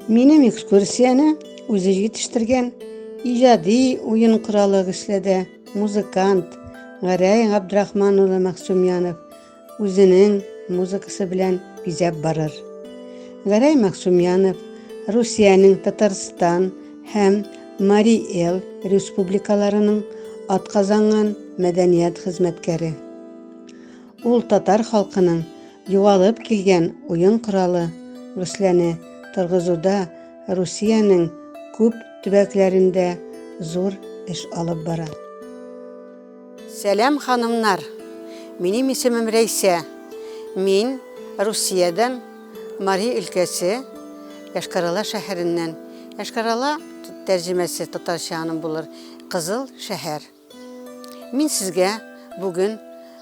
Минем экскурсияне үзе җитештергән иҗади уен коралы кешеләдә музыкант Гәрәй Габдрахман улы Мәхсүмянов үзенең музыкасы белән бизәп барыр. Гәрәй Максумянов Русиянең Татарстан һәм Мари Эл республикаларының атказанган мәдәният хезмәткәре. Ул татар халкының югалып килгән уен коралы Русләне торгызуда Русиянең күп төбәкләрендә зур эш алып бара. Сәлам ханымнар! Минем исемем Рәйсә. Мин Русиядән, Мари өлкәсе, Йошкар-Ола шәһәреннән. Йошкар-Ола, тәрҗемәсе татарча аның булыр, Кызыл шәһәр. Мин сезгә бүген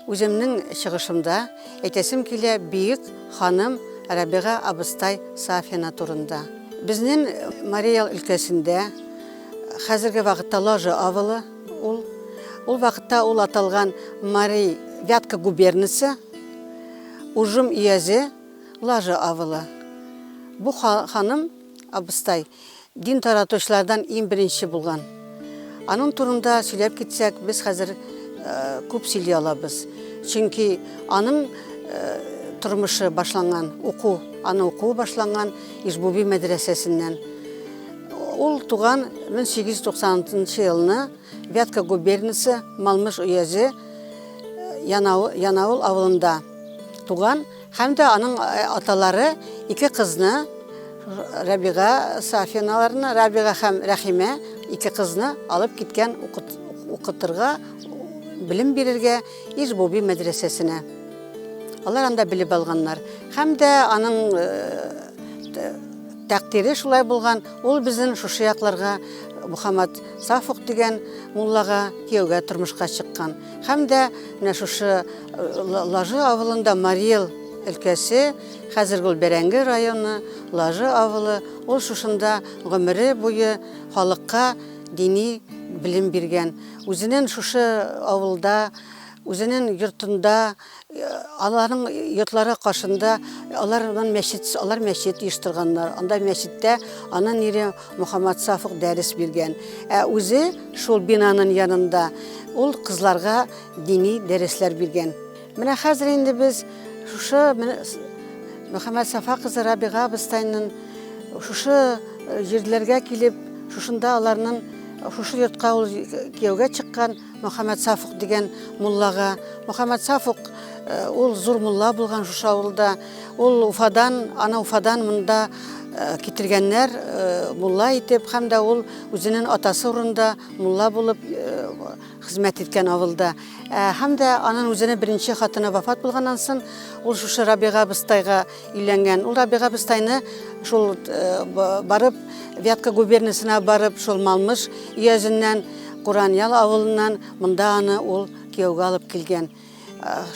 үземнең чыгышымда әйтәсем килә бөек ханым Рабига абыстай Сафина турында. Безнең Мари Эл өлкәсендә хәзерге вакытта Ложа авылы, Ул ул вакытта ул аталган Мари Вятка губернасы, Ужым өязе, Лажа авылы. Бу ханым, абыстай, дин таратучылардан иң беренче булган. Аның турында сөйләп китсәк, без хәзер күп сөйли алабыз. Чөнки аның тормышы башланган, уку, аны уку башланган Ижбуби мәдрәсәсеннән. Ул туган 1896 елны Вятка губернасы Малмыш уезе Янаул авылында туган һәм дә аның э, аталары ике кызны Рабига Сафиналарны, Рабига һәм Рәхимә ике кызны алып киткән укытырга, белем бирергә Ижбуби мәдрәсәсенә. Алар анда белеп алганнар. Һәм дә аның э, Тәкъдире шулай булган, ул безнен шушы якларга Мухаммад Сафук дигән муллага кияүгә тормышка чыккан. Һәм дә менә шушы Лажы авылында Мариэл өлкәсе, хәзерге ул Бәрәңге районы, Лажы авылы, ул шушында гомере буе халыкка дини белем биргән. Үзенен шушы авылда, үзенен йортында, Аларның йортлары каршында алар моннан мәчет, алар мәчет оештырганнар. Анда мәчеттә анын ире Мухаммад Сафык дәрес биргән. Ә үзе шул бинаның янында ул кызларга дини дәресләр биргән. Менә хәзер инде без шушы Мухаммад Сафа кызы Рабига Быстайның шушы җирләргә килеп, шушында аларның шушы йортка ул кияүгә чыккан. Мөхәммәд Сафук дигән муллага. Мөхәммәд Сафук э, ул зур мулла булган шушы авылда. Ул Уфадан, ана Уфадан монда э, китергәннәр э, мулла итеп һәм дә ул үзенең атасы урында мулла булып хезмәт иткән авылда. Һәм дә аның үзенең беренче хатыны вафат булганнан соң ул шушы Рабига Быстайга Өйләнгән. Ул Рабига абыстайны шул барып, Вятка губерниясенә барып, шул Малмыш өязеннән, Кураньял авылыннан монда аны ул кияүгә алып килгән.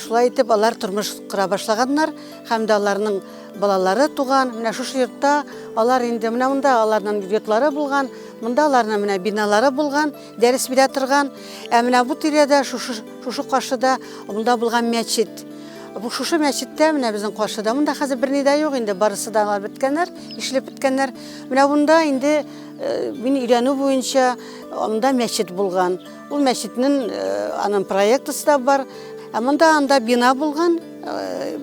Шулай итеп, алар тормыш кора башлаганнар һәм дә аларның балалары туган. Менә шушы йортта алар инде, менә монда аларның йортлары булган, монда аларның менә биналары булган. Дәрес бирә торган, ә менә бу тирәдә, шушы, шушы каршыда, монда булган мәчет. Бу шушы мәчеттә, менә безнең каршыда, монда хәзер берни дә юк инде, барысы да беткәннәр, ишлеп беткәннәр. Менә монда инде э, мин өйрәнү буенча монда мәчет булган. Ул мәчетнең э, аның проектысы да бар. Ә монда анда бина булган, э,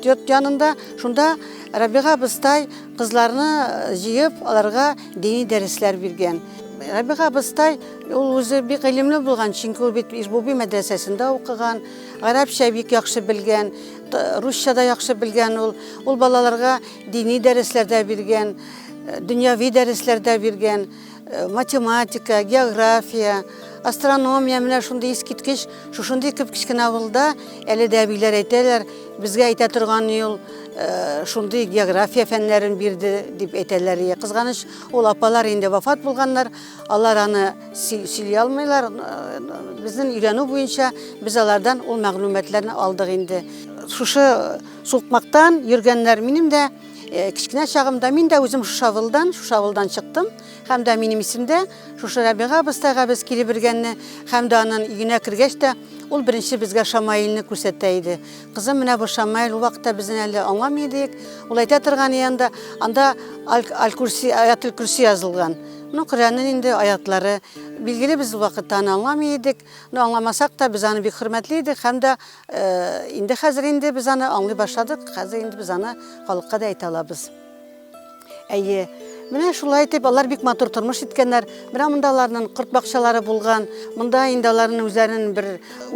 йорт янында, шунда Рабига Быстай кызларны җыеп, аларга дини дәресләр биргән. Рәбига абыстай ул үзе бик гыйлемле булган, чөнки ул бит Ижбуби мәдрәсәсендә укыган, гарәпчә бик яхшы белгән, русча да яхшы белгән ул. Ул балаларга дини дәресләр дә биргән, э, дөньяви дәресләр дә биргән, э, математика, география, астрономия менә шундый искиткеч, шушындый кеп кечкенә авылда әле дә әбиләр әйтәләр, безгә әйтә торган юл, э, шундый география фәннәрен бирде дип әйтәләр. Кызганыч, Ул апалар инде вафат булганнар, алар аны сөйли алмыйлар. Безнең өйрәнү буенча без алардан ул мәгълүматларны алдык инде. Шушы сукмактан йөргәннәр. Минем дә э, кечкенә чагымда мин дә үзем шушы авылдан, шушы авылдан чыктым. Һәм дә минем исемдә шушы Рәбига абыстайга без килеп бергәнне, һәм дә анын өенә кергәч тә ул беренче безгә Шамаилне күрсәтә иде. Кызым менә бу Шамаил ул вакытта безнең әле аңламый идек. Ул әйтә торган янда анда аль-курси аятул курси язылган. Ну Коръәннең инде аятлары. Билгеле без ул вакытта аны аңламый идек. Ну аңламасак та без аны бик хөрмәтли идек һәм дә э, инде хәзер инде без аны аңлый башладык. Хәзер инде без аны халыкка да әйтә алабыз. Әйе, Менә шулай итеп алар бик матур тормыш иткәннәр. Менә монда аларның корт бакчалары булган. Монда инде аларның үзләренең бер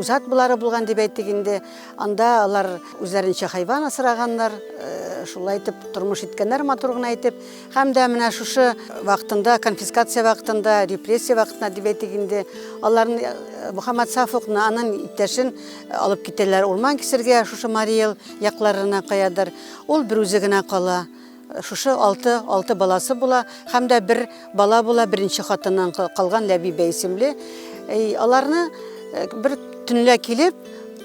үзат булары булган дип әйтик инде. Анда алар үзләренчә хайван асраганнар. Э, шулай итеп тормыш иткәннәр матур гына итеп. Һәм дә менә шушы вакытында, конфискация вакытында, репрессия вакытында дип әйтик инде, аларны э, Мухаммад Сафовны, аның иптәшен э, алып китәләр урман кисергә, шушы Мариэл якларына каядыр. Ул бер үзе генә кала. Шушы алты, алты баласы була һәм дә бер бала була беренче хатыннан калган Ләбибә исемле. Аларны э, бер төнлә килеп,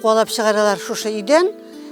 куалап чыгаралар шушы өйдән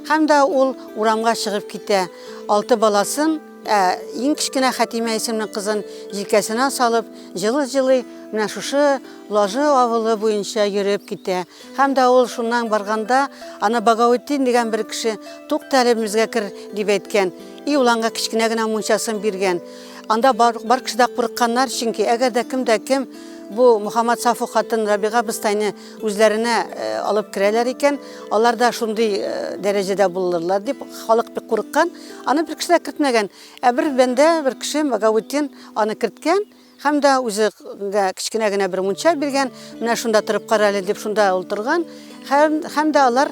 һәм дә ул урамга чыгып китә. Алты баласын Ә иң кечкенә Хәтимә исемле кызын җилкәсенә салып, җылы-җылы менә шушы Лажы авылы буенча йөреп китә. Һәм дә ул шуннан барганда, аны Багаутдин дигән бер кеше, тукта әле безгә кер, дип әйткән. И ул аңа кечкенә генә мунчасын биргән. Анда бар, бар кеше дә курыкканнар, чөнки әгәр дә кем дә кем бу Мухаммад Сафу хатын Рабига быстайны үзләренә э, алып керәләр икән, алар да шундый э, дәрәҗәдә булырлар дип халык бик курыккан. Аны бер кеше дә кертмәгән. Ә бер бәндә, бер кеше Багаутдин аны керткән. Һәм дә үзе гә кечкенә генә бер мунча биргән, менә шунда торып кара әле дип шунда ул торган. Һәм, һәм дә алар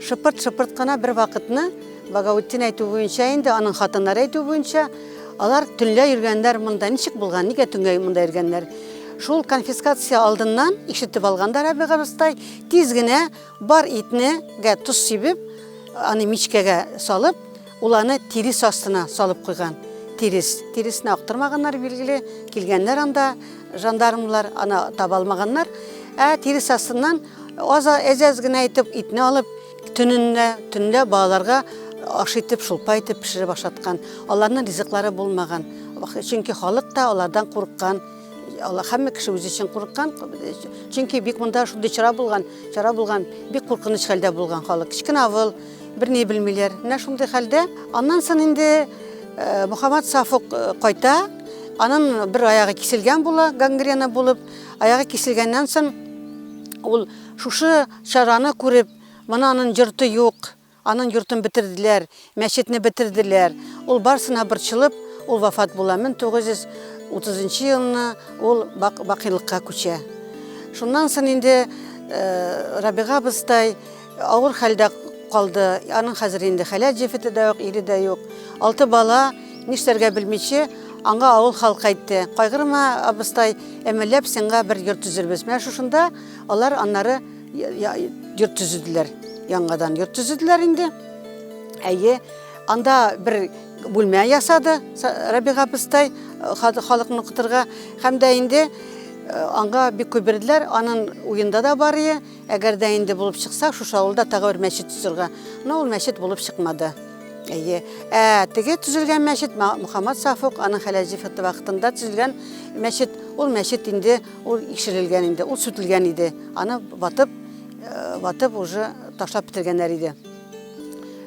шыпырт-шыпырт кына бер вакытны, Багаутдин әйтү буенча инде, аның хатыннары әйтү буенча, алар төнлә йөргәннәр монда. Ничек булган, нигә төнгә монда йөргәннәр? Шул конфискация алдыннан ишетеп алган да Рәбига абыстай, тиз генә бар итне гә тоз сибеп, аны мичкәгә салып, Ул аны тирес астына салып куйган. Тирес. Тиресне актырмаганнар, билгеле. Килгәннәр анда жандармлар, аны таба алмаганнар. Ә тирес астыннан аз әз-әз генә итеп итне алып, төнендә, төнлә балаларга аш итеп, шулпа итеп пешереп ашаткан. Аларның ризыклары булмаган. Чөнки халык та алардан курыккан. Алар һәммә кеше үзе өчен курыккан. Чөнки бик монда шундый чара булган, чара булган, бик куркыныч хәлдә булган халык. Кечкенә авыл, Берни белмиләр. Менә шундый хәлдә. Аннан сон инде э, Мухаммад Сафук э, кайта. Анын бер аягы киселгән була, гангрена булып. Аягы киселгәннән сон ул шушы чараны күреп, моны анын йорты юк, анын йортын бетерделәр, мәчетне бетерделәр. Ул барсына борчылып, ул вафат була. 1930 елны ул бакыйлыкка күчә. Шуннан сон инде э, Рабига абыстай Авыр хәлдә калды. Аның хәзер инде хәләл җефете дә юк, ире дә юк. Алты бала, нишләргә белмичә, аңа авыл халкы әйтте, Кайгырма, абыстай, әмәлләп сиңа бер йорт төзербез. Менә шушында алар аннары йорт төзеделәр. Яңадан йорт төзеделәр инде. Әйе, анда бер бүлмә ясады Рабига абыстай халыкны укытырга һәм дә инде аңа бик күп бирделәр. Аның уенда да бар ие. Әгәр дә инде булып чыкса, шушы авылда тагы бер мәчет төзергә. Но ул мәчет булып чыкмады. Әйе. Ә теге төзелгән мәчет Мухаммад Сафук аның хәләҗифаты вакытында төзелгән мәчет. Ул мәчет инде ул икшерелгән инде, ул сүтелгән иде. Аны ватып, э, ватып уже ташлап бетергәннәр иде.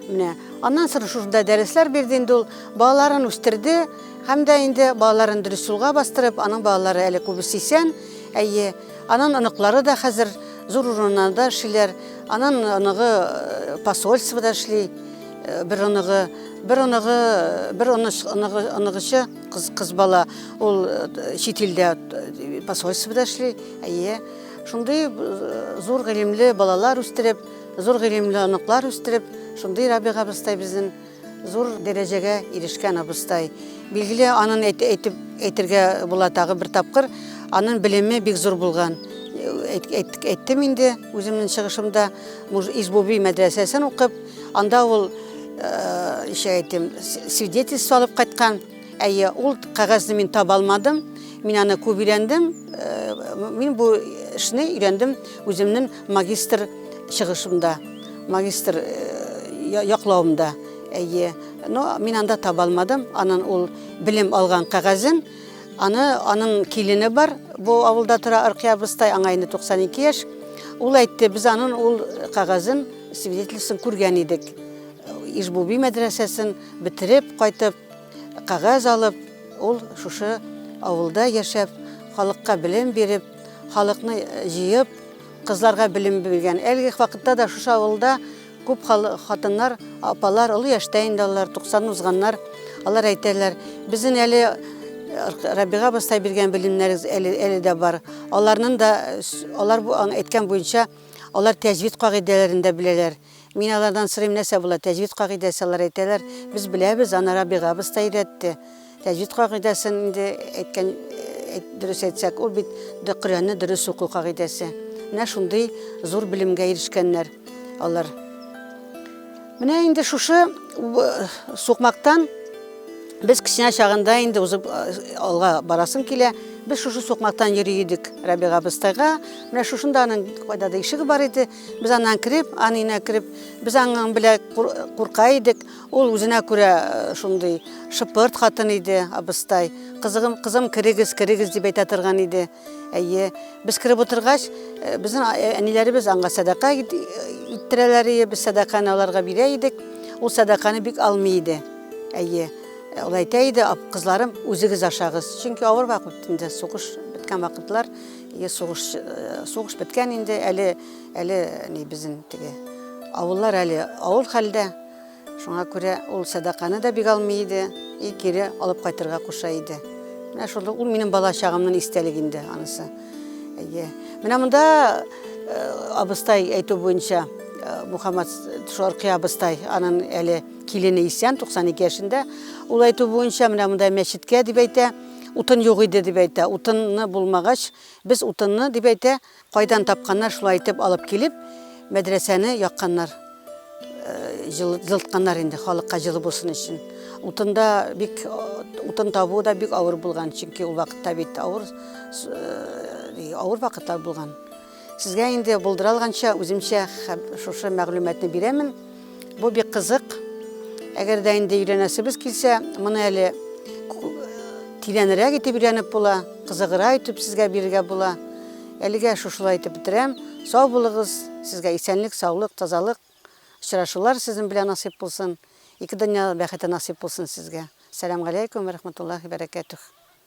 Менә аннан соң шушында дәресләр бирде инде ул, балаларын үстерде һәм дә инде балаларын дөрес юлга бастырып, аның балалары әле күбесе исән. Әйе. Анын оныклары да хәзер зур урыннарда эшлиләр. Анын оныгы э, посольствода эшли, э, бер оныгы, бер оныгы, бер оныгычы кыз, кыз бала, ул э, чит илдә посольствода эшли. Әйе. Шундый зур гыйлемле балалар үстереп, зур гыйлемле оныклар үстереп, шундый Рабига абыстай безнең Зур дәрәҗәгә ирешкән абыстай. Билгеле, анын әйтеп әйтергә була тагы бер тапкыр, анын белеме бик зур булган. Әйттем инде үземнең чыгышымда, Ижбуби мәдрәсәсен укып, анда ул ничек әйтим, свидетельство алып кайткан. Әйе, ул кәгазьне мин таба алмадым. Мин аны күп өйрәндем. Мин бу эшне өйрәндем үземнең Магистр чыгышымда, магистр яклавымда, әйе. Но мин анда таба алмадым. Анын ул белем алган кәгазен, аны анын килене бар. Бу авылда тора Аркия абыстай, аңа инде 92 яшь. Ул әйтте, без анын ул кәгазен, свидетельствосын күргән идек. Ижбуби мәдрәсәсен бетереп кайтып, кәгазь алып, ул шушы авылда яшәп, халыкка белем биреп, Халыкны җыеп, кызларга белем биргән. Әлеге вакытта да шушы авылда күп хатыннар, апалар, олы яшьтә инде алар, 90 узганнар. Алар әйтәләр, безнең әле Рабига абыстай биргән белемнәрегез әле, әле дә бар. Аларның да, алар әйткән буенча, алар тәҗвид кагыйдәләрен дә беләләр. Мин алардан сорыйм, нәрсә була, тәҗвид кагыйдәсе, алар әйтәләр, без беләбез, аны Рабига абыз та өйрәтте. Тәҗвид кагыйдәсен инде әйткән, дөрес әйтсәк, ул бит Коръәнне дөрес уку кагыйдәсе. Менә шундый зур белемгә ирешкәннәр алар. Менә инде шушы сукмактан без кечкенә чагында инде узып алга барасым килә. Без шушы сукмактан йөри идек Рабига абыстайга. Менә шушында аның кайда да ишеге бар иде. Без аннан кереп, анына кереп, без аңың белә курка идек. Ул үзенә күрә э, шундый шыпырт хатын иде, абыстай. Кызыгым, кызым, керегез, керегез дип әйтә торган иде. Әйе, без кереп утыргач, э, безнең э, әниләребез аңа сәдака иттерәләр иде, без сәдаканы аларга бирә идек. Ул сәдаканы бик алмый иде. Әйе, ул әйтә иде, кызларым, үзегез ашагыз. Чөнки авыр вакыт инде, сугыш беткән вакытлар. Сугыш, сугыш беткән инде, әле, әле ни безнең теге авыллар әле авыл хәлдә. Шуңа күрә ул сәдаканы да бик алмый иде, и кире алып кайтырга куша иде. Менә шул ул минем бала чагымның истәлеге инде анысы. Әйе. Менә монда абыстай әйтү буенча Мухаммад Шаркый абыстай, аның әле килене исән, 92 яшендә. Ул әйтү буенча менә монда мәчеткә дип әйтә. Утын юк иде, дип әйтә. Утынны булмагач, без утынны, дип әйтә, кайдан тапканнар, шулай итеп алып килеп, мәдрәсәне якканнар. Җылытканнар инде халыкка җылы булсын өчен. Утында бик утын табу да бик авыр булган, чөнки ул вакытта бит авыр авыр вакытлар булган. Сезгә инде булдыра алганча үземчә шушы мәгълүматны бирәмен. Бу бик кызык. Әгәр дә инде өйләнәсебез килсә, моны әле тирәнрәк итеп өйрәнеп була, кызыгыра итеп сезгә бирергә була. Әлегә шушылай итеп бетерәм. Сау булыгыз, сезгә исәнлек, саулык, тазалык, очрашулар сезнең белән насыйп булсын. Ике дөнья бәхете насыйп булсын сезгә. Сәлам галәйкүм, рәхмәтуллахи бәрәкәтүх.